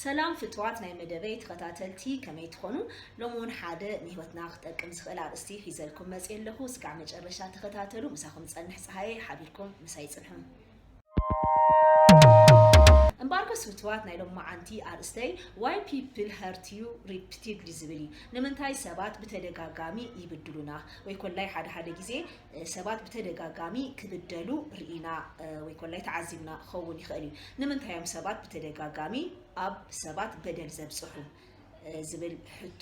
ሰላም ፍትዋት ናይ መደበይ ተኸታተልቲ ከመይ ትኾኑ ሎሚ እውን ሓደ ንህይወትና ክጠቅም ዝኽእል ኣርእስቲ ሒዘልኩም መፅእ ኣለኹ እስካዕ መጨረሻ ተኸታተሉ ምሳኹም ፀንሕ ፀሃየ ሓቢርኩም ምሳይ ፅንሑ እምበኣርኮስ ፍትዋት ናይ ሎም መዓንቲ ኣርእስተይ ዋይ ፒፕል ሀርት ዩ ሪፒቲድሊ ዝብል እዩ ንምንታይ ሰባት ብተደጋጋሚ ይብድሉና ወይ ኮላይ ሓደ ሓደ ግዜ ሰባት ብተደጋጋሚ ክብደሉ ርኢና ወይ ኮላይ ተዓዚብና ክኸውን ይኽእል እዩ። ንምንታይ እዮም ሰባት ብተደጋጋሚ ኣብ ሰባት በደል ዘብጽሑ? ዝብል ሕቶ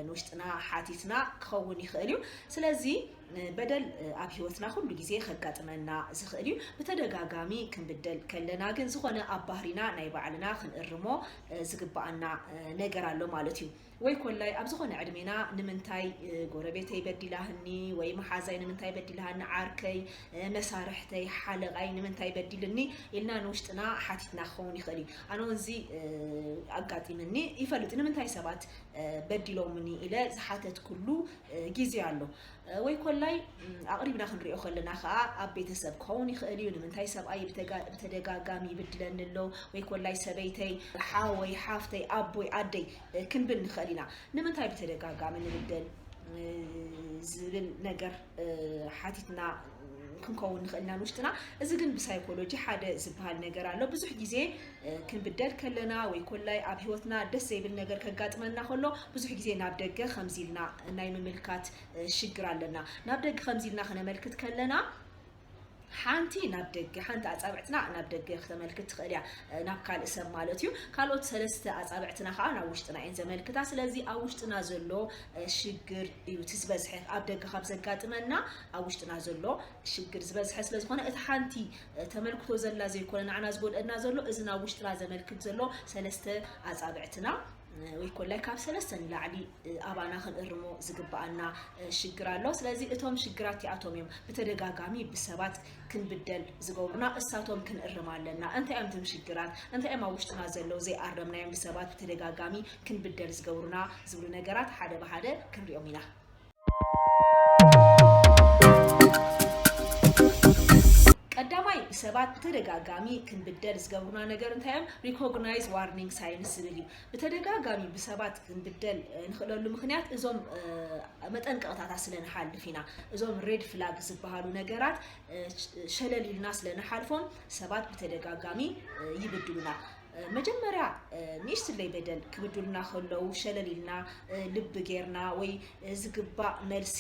ንውሽጥና ሓቲትና ክኸውን ይኽእል እዩ። ስለዚ በደል ኣብ ህይወትና ኩሉ ግዜ ከጋጥመና ዝኽእል እዩ። ብተደጋጋሚ ክንብደል ከለና ግን ዝኾነ ኣብ ባህሪና ናይ ባዕልና ክንእርሞ ዝግብኣና ነገር ኣሎ ማለት እዩ። ወይ ኮላይ ኣብ ዝኾነ ዕድሜና ንምንታይ ጎረቤተይ በዲላህኒ ወይ መሓዛይ ንምንታይ በዲላሃኒ ዓርከይ መሳርሕተይ ሓለቓይ ንምንታይ በዲልኒ ኢልና ንውሽጥና ሓቲትና ክኸውን ይኽእል እዩ ኣነ እውን እዚ ኣጋጢምኒ ይፈልጥ ንምንታይ ሰባት በዲሎምኒ ኢለ ዝሓተትኩሉ ግዜ ኣሎ ወይ ኮላይ ኣቕሪብና ክንሪኦ ከለና ከኣ ኣብ ቤተሰብ ክኸውን ይኽእል እዩ። ንምንታይ ሰብኣይ ብተደጋጋሚ ይብድለኒ ኣሎ ወይ ኮላይ ሰበይተይ፣ ሓወይ፣ ሓፍተይ፣ ኣቦይ፣ ኣደይ ክንብል ንኽእል ኢና። ንምንታይ ብተደጋጋሚ ንብደል ዝብል ነገር ሓቲትና ክንከውን ንኽእል ኢና ንውሽጥና። እዚ ግን ብሳይኮሎጂ ሓደ ዝበሃል ነገር ኣሎ። ብዙሕ ግዜ ክንብደል ከለና ወይ ኮላይ ኣብ ህይወትና ደስ ዘይብል ነገር ከጋጥመና ከሎ ብዙሕ ግዜ ናብ ደገ ከምዚ ኢልና ናይ ምምልካት ሽግር ኣለና። ናብ ደገ ከምዚ ኢልና ክነመልክት ከለና ሓንቲ ናብ ደገ ሓንቲ ኣጻብዕትና ናብ ደገ ክተመልክት ትኽእል እያ ናብ ካልእ ሰብ ማለት እዩ ካልኦት ሰለስተ ኣጻብዕትና ከዓ ናብ ውሽጥና እየን ዘመልክታ ስለዚ ኣብ ውሽጥና ዘሎ ሽግር እዩ እቲ ዝበዝሐ ኣብ ደገ ካብ ዘጋጥመና ኣብ ውሽጥና ዘሎ ሽግር ዝበዝሐ ስለዝኾነ እቲ ሓንቲ ተመልክቶ ዘላ ዘይኮነ ንዓና ዝጎድኣና ዘሎ እዚ ናብ ውሽጥና ዘመልክት ዘሎ ሰለስተ ኣጻብዕትና ወይ ኮላይ ካብ ሰለስተ ንላዕሊ ኣባና ክንእርሞ ዝግብኣና ሽግር ኣሎ። ስለዚ እቶም ሽግራት እቲኣቶም እዮም ብተደጋጋሚ ብሰባት ክንብደል ዝገብሩና እሳቶም ክንእርም ኣለና። እንታይ እዮም እቶም ሽግራት እንታይ እዮም ኣብ ውሽጥና ዘለዉ ዘይኣረምናዮም ብሰባት ብተደጋጋሚ ክንብደል ዝገብሩና ዝብሉ ነገራት ሓደ ብሓደ ክንሪኦም ኢና። ቀዳማይ ብሰባት ብተደጋጋሚ ክንብደል ዝገብሩና ነገር እንታይ እዮም ሪኮግናይዝ ዋርኒንግ ሳይንስ ዝብል እዩ ብተደጋጋሚ ብሰባት ክንብደል ንኽእለሉ ምክንያት እዞም መጠንቀቕታታት ስለ ንሓልፍ ኢና እዞም ሬድ ፍላግ ዝበሃሉ ነገራት ሸለል ኢልና ስለ ንሓልፎም ሰባት ብተደጋጋሚ ይብድሉና መጀመርያ ንእሽትለይ በደል ክብዱልና ከለዉ ሸለል ኢልና ልቢ ጌርና ወይ ዝግባእ መልሲ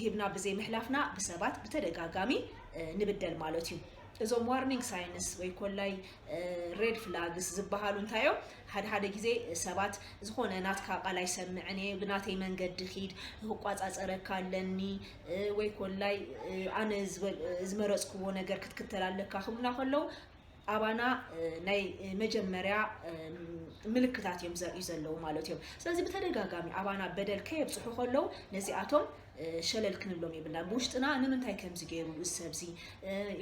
ሂብና ብዘይምሕላፍና ብሰባት ብተደጋጋሚ ንብደል ማለት እዩ። እዞም ዋርኒንግ ሳይንስ ወይ ኮላይ ሬድ ፍላግስ ዝበሃሉ እንታይ እዮም? ሓደ ሓደ ግዜ ሰባት ዝኾነ ናትካ ቃል ኣይሰምዕን እየ ብናተይ መንገዲ ኪድ ክቋጻጸረካ ኣለኒ እ፣ ወይ ኮላይ እ፣ ኣነ ዝበል- ዝመረጽክዎ ነገር ክትክተል ኣለካ ክብሉና ከለዉ ኣባና ናይ መጀመርያ ምልክታት እዮም ዘርእዩ ዘለዉ ማለት እዮም ስለዚ ብተደጋጋሚ ኣባና በደል ከየብፅሑ ከለዉ ነዚኣቶም ሸለል ክንብሎም የብልና ብውሽጥና ንምንታይ ከምዚ ገይሩ እዚ ሰብዚ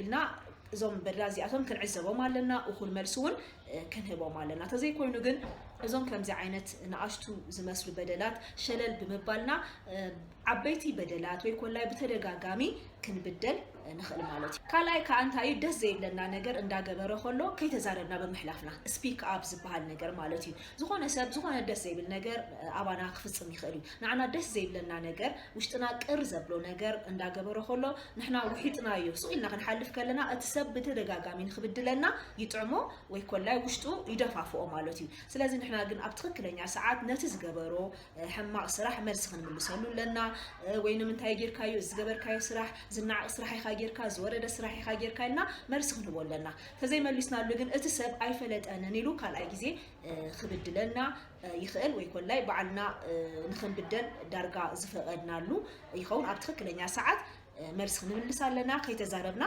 ኢልና እዞም በድላ እዚኣቶም ክንዕዘቦም ኣለና እኹል መልሲ እውን ክንህቦም ኣለና ተዘይኮይኑ ግን እዞም ከምዚ ዓይነት ንኣሽቱ ዝመስሉ በደላት ሸለል ብምባልና ዓበይቲ በደላት ወይ ኮላይ ብተደጋጋሚ ክንብደል ንኽእል ማለት እዩ። ካልኣይ ክኣ እንታይ እዩ ደስ ዘይብለና ነገር እንዳገበረ ከሎ ከይተዛረብና ብምሕላፍና Speak up ዝብሃል ነገር ማለት እዩ። ዝኾነ ሰብ ዝኾነ ደስ ዘይብል ነገር ኣባና ክፍጽም ይኽእል እዩ። ንዓና ደስ ዘይብለና ነገር ውሽጥና ቅር ዘብሎ ነገር እንዳገበረ ከሎ ንሕና ውሒጥናዮ ሱቕ ኢልና ክንሓልፍ ከለና እቲ ሰብ ብተደጋጋሚ ንኽብድለና ይጥዕሞ ወይ ኮላይ ውሽጡ ይደፋፍኦ ማለት እዩ። ስለዚ ንሕና ግን ኣብ ትኽክለኛ ሰዓት ነቲ ዝገበሮ ሕማቕ ስራሕ መልሲ ክንምልሰሉ ኣለና ወይ ንምንታይ ጌርካዮ እዚ ዝገበርካዮ ስራሕ ዝነዓቕ ስራሕ ኢኻ ጌርካ ዝወረደ ስራሕ ኢኻ ጌርካ ኢልና መልሲ ክንህቦ ኣለና ተዘይመሊስናሉ ግን እቲ ሰብ ኣይፈለጠንን ኢሉ ካልኣይ ግዜ ክብድለና ይኽእል ወይ ኮላይ ባዕልና ንክንብደል ዳርጋ ዝፈቐድናሉ ይኸውን ኣብ ትኽክለኛ ሰዓት መልሲ ክንምልስ ኣለና ከይተዛረብና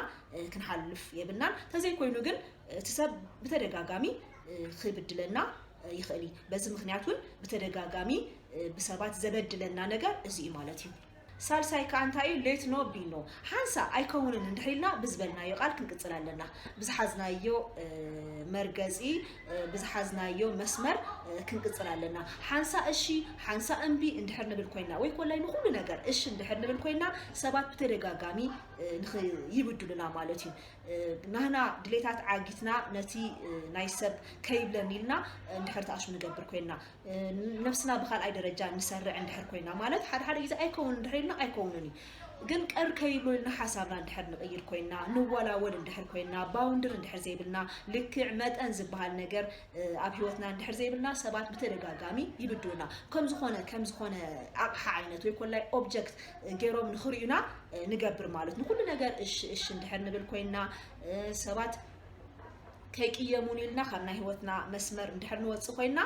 ክንሓልፍ የብልናን ተዘይኮይኑ ግን እቲ ሰብ ብተደጋጋሚ ክብድለና ይኽእል እዩ። በዚ ምኽንያት እውን ብተደጋጋሚ ብሰባት ዘበድለና ነገር እዚ እዩ ማለት እዩ። ሳልሳይ ከዓ እንታይ እዩ ሌት ኖ ቢ ኖ ሓንሳ ኣይከውንን እንድሕር ኢልና ብዝበልናዮ ቃል ክንቅፅል ኣለና ብዝሓዝናዮ መርገፂ ብዝሓዝናዮ መስመር ክንቅፅል ኣለና ሓንሳ እሺ ሓንሳ እምቢ እንድሕር ንብል ኮይና ወይ ኮላይ ንኩሉ ነገር እሺ እንድሕር ንብል ኮይና ሰባት ብተደጋጋሚ ይብድሉና ማለት እዩ ናህና ድሌታት ዓጊትና ነቲ ናይ ሰብ ከይብለኒ ኢልና እንድሕር ተኣሱ ንገብር ኮይና ነብስና ብካልኣይ ደረጃ ንሰርዕ እንድሕር ኮይና ማለት ሓደ ሓደ ግዜ ኣይከውን እንድሕር ኢልና ኣይከውንን እዩ ግን ቀር ከይብሎ ኢልና ሓሳብና እንድሕር ንቕይር ኮይና ንወላወል እንድሕር ኮይና ባውንድር እንድሕር ዘይብልና ልክዕ መጠን ዝበሃል ነገር ኣብ ሂወትና እንድሕር ዘይብልና ሰባት ብተደጋጋሚ ይብድሉና ከም ዝኾነ ከም ዝኾነ ኣቕሓ ዓይነት ወይ ኮላይ ኦብጀክት ገይሮም ንኽሪኡና ንገብር ማለት ንኹሉ ነገር እሺ እሺ እንድሕር ንብል ኮይንና ሰባት ከይቅየሙን ኢልና ካብ ናይ ህይወትና መስመር እንድሕር ንወፅእ ኮይንና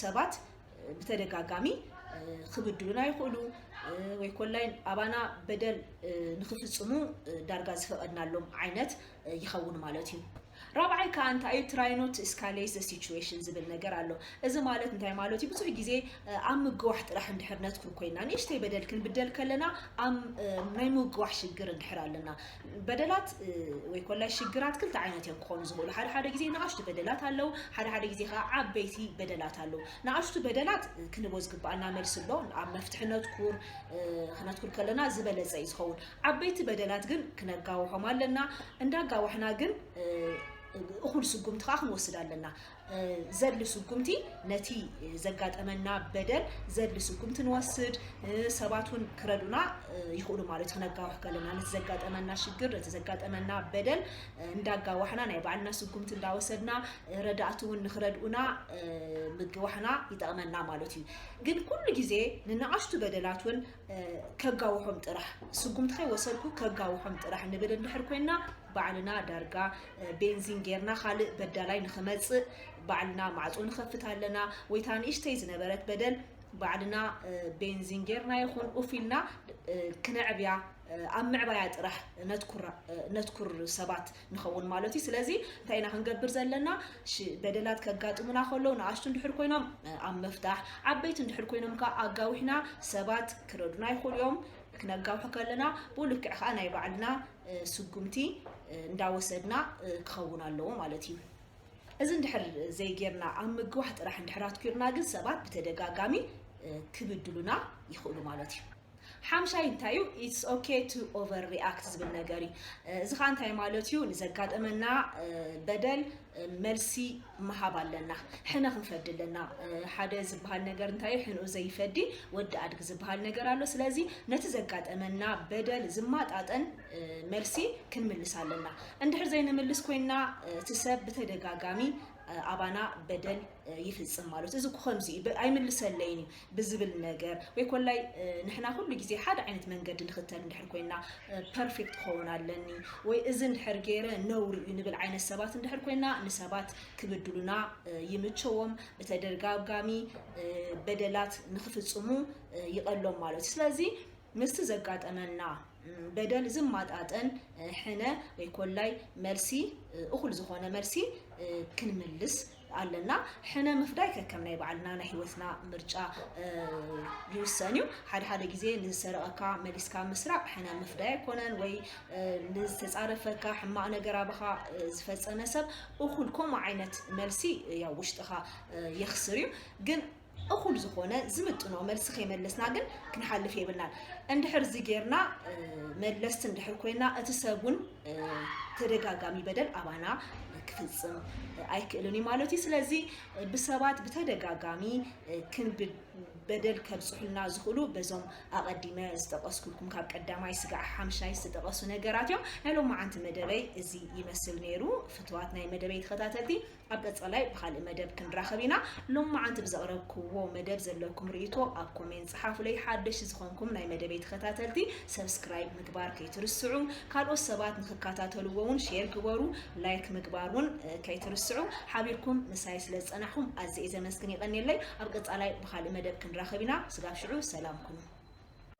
ሰባት ብተደጋጋሚ ክብድሉና ይኽእሉ ወይ ኮላይ ኣባና በደል ንኽፍፅሙ ዳርጋ ዝፈቐድናሎም ዓይነት ይኸውን ማለት እዩ። ራብዓይ ከዓ እንታይ እዩ ትራይኖት እስካሌስ ዘ ሲቹዌሽን ዝብል ነገር ኣሎ። እዚ ማለት እንታይ ማለት እዩ? ብዙሕ ግዜ ኣብ ምግዋሕ ጥራሕ እንድሕር ነትኩር ኮይና ንእሽተይ በደል ክንብደል ከለና ኣብ ናይ ምግዋሕ ሽግር እንድሕር ኣለና በደላት ወይ ኮላይ ሽግራት ክልተ ዓይነት እዮም ክኾኑ ዝኽእሉ። ሓደ ሓደ ግዜ ንኣሽቱ በደላት ኣለው፣ ሓደ ሓደ ግዜ ከዓ ዓበይቲ በደላት ኣለው። ንኣሽቱ በደላት ክንቦ ዝግባኣና መልሲ ኣሎ። ኣብ መፍትሒ ነትኩር ክነትኩር ከለና ዝበለፀ እዩ ዝኸውን። ዓበይቲ በደላት ግን ክነጋውሖም ኣለና፣ እንዳጋዋሕና ግን እኹል ስጉምቲ ከኣ ክንወስድ ኣለና። ዘድሊ ስጉምቲ ነቲ ዘጋጠመና በደል ዘድሊ ስጉምቲ ንወስድ፣ ሰባት እውን ክረዱና ይኽእሉ ማለት እዩ። ክነጋውሕ ከለና ነቲ ዘጋጠመና ሽግር ነቲ ዘጋጠመና በደል እንዳጋዋሕና ናይ ባዕልና ስጉምቲ እንዳወሰድና ረዳእቲ እውን ንክረድኡና ምግዋሕና ይጠቕመና ማለት እዩ። ግን ኩሉ ግዜ ንነኣሽቱ በደላት እውን ከጋውሖም ጥራሕ ስጉምቲ ከይወሰድኩ ከጋውሖም ጥራሕ ንብል እንድሕር ኮይና ባዕልና ዳርጋ ቤንዚን ጌርና ካልእ በዳላይ ንኽመጽእ ባዕልና ማዕጾ ንኸፍት ኣለና ወይ እታ ንእሽተይ ዝነበረት በደል ባዕልና ቤንዚን ጌርና ይኹን ኡፍ ኢልና ክነዕብያ ኣብ ምዕባያ ጥራሕ ነትኩር ሰባት ንኸውን ማለት እዩ ስለዚ እንታይ ኢና ክንገብር ዘለና በደላት ከጋጥሙና ከለዉ ንኣሽቱ እንድሕር ኮይኖም ኣብ ምፍታሕ ዓበይቲ እንድሕር ኮይኖም ከዓ ኣጋዊሕና ሰባት ክረዱና ይኽእሉ እዮም ክነጋውሑ ከለና ብኡ ልክዕ ከዓ ናይ ባዕልና ስጉምቲ እንዳወሰድና ክኸውን ኣለዎ ማለት እዩ እዚ እንድሕር ዘይጌርና ኣብ ምግዋሕ ጥራሕ እንድሕር ኣትኲርና ግን ሰባት ብተደጋጋሚ ክብድሉና ይኽእሉ ማለት እዩ ሓምሻይ እንታይ እዩ ኢትስ ኦኬ ቱ ኦቨር ሪኣክት ዝብል ነገር እዩ። እዚ ከዓ እንታይ ማለት እዩ ንዘጋጠመና በደል መልሲ ምሃብ ኣለና። ሕነ ክንፈዲ ኣለና። ሓደ ዝበሃል ነገር እንታይ እዩ ሕንኡ ዘይፈዲ ወዲ ኣድጊ ዝበሃል ነገር ኣሎ። ስለዚ ነቲ ዘጋጠመና በደል ዝማጣጠን መልሲ ክንምልስ ኣለና። እንድሕር ዘይንምልስ ኮይንና እቲ ሰብ ብተደጋጋሚ ኣባና በደል ይፍጽም ማለት እዩ። እዚ እኮ ከምዚ እዩ ብ- ኣይምልሰለይን እዩ ብዝብል ነገር ወይ ኮላይ እ፣ ንሕና ኩሉ ግዜ ሓደ ዓይነት መንገዲ ንኽተል እንድሕር ኮይና ፐርፌክት ክኸውን ኣለኒ ወይ እዚ እንድሕር ገይረ ነውሪ እዩ ንብል ዓይነት ሰባት እንድሕር ኮይና ንሰባት ክብድሉና እ፣ ይምቸዎም ብተደጋጋሚ እ፣ በደላት ንኽፍጽሙ እ፣ ይቐሎም ማለት እዩ። ስለዚ ምስቲ ዘጋጠመና እ፣ በደል ዝማጣጠን እ፣ ሕነ ወይ ኮላይ መልሲ እ፣ እኹል ዝኾነ መልሲ እ፣ ክንምልስ ኣለና ሕነ ምፍዳይ ከከም ናይ ባዕልና ናይ ሂወትና ምርጫ ይውሰን እዩ ሓደ ሓደ ግዜ ንዝሰረቀካ መሊስካ ምስራቅ ሕነ ምፍዳይ ኣይኮነን ወይ ንዝተጻረፈካ ሕማቅ ነገር ኣባኻ ዝፈጸመ ሰብ እኹል ከምኡ ዓይነት መልሲ ያው ውሽጥኻ የኽስር እዩ ግን እኹል ዝኾነ ዝምጥኖ መልሲ ከይመለስና ግን ክንሓልፍ የብልናን። እንድሕር እዚ ጌርና መለስቲ እንድሕር ኮይና እቲ ሰብ እውን ተደጋጋሚ በደል ኣባና ክፍፅም ኣይክእልን እዩ ማለት እዩ። ስለዚ ብሰባት ብተደጋጋሚ በደል ከብፅሑልና ዝኽእሉ በዞም ኣቐዲመ ዝጠቐስኩልኩም ካብ ቀዳማይ ስጋዕ ሓምሻይ ዝተጠቐሱ ነገራት እዮም። ናይ ሎማዓንቲ መደበይ እዚ ይመስል ነይሩ። ፍትዋት ናይ መደበይ ተኸታተልቲ ኣብ ቀጻላይ ብኻልእ መደብ ክንራኸብ ኢና። ሎምዓንቲ ብዘቕረብክዎ መደብ ዘለኩም ርእይቶ ኣብ ኮሜንት ጽሓፉለይ። ሓደሽቲ ዝኾንኩም ናይ መደበይ ተኸታተልቲ subscribe ምግባር ከይትርስዑ። ካልኦት ሰባት ንኽካታተልዎ ውን share ግበሩ። like ምግባር ውን ከይትርስዑ። ሓቢርኩም ምሳይ ስለ ዝጸናሕኩም ኣዝየ እየ ዘመስግን የቐንየለይ። ኣብ ቀጻላይ ብኻልእ መደብ ክንራኸብ ኢና ስጋብ ሽዑ ሰላም ኩኑ።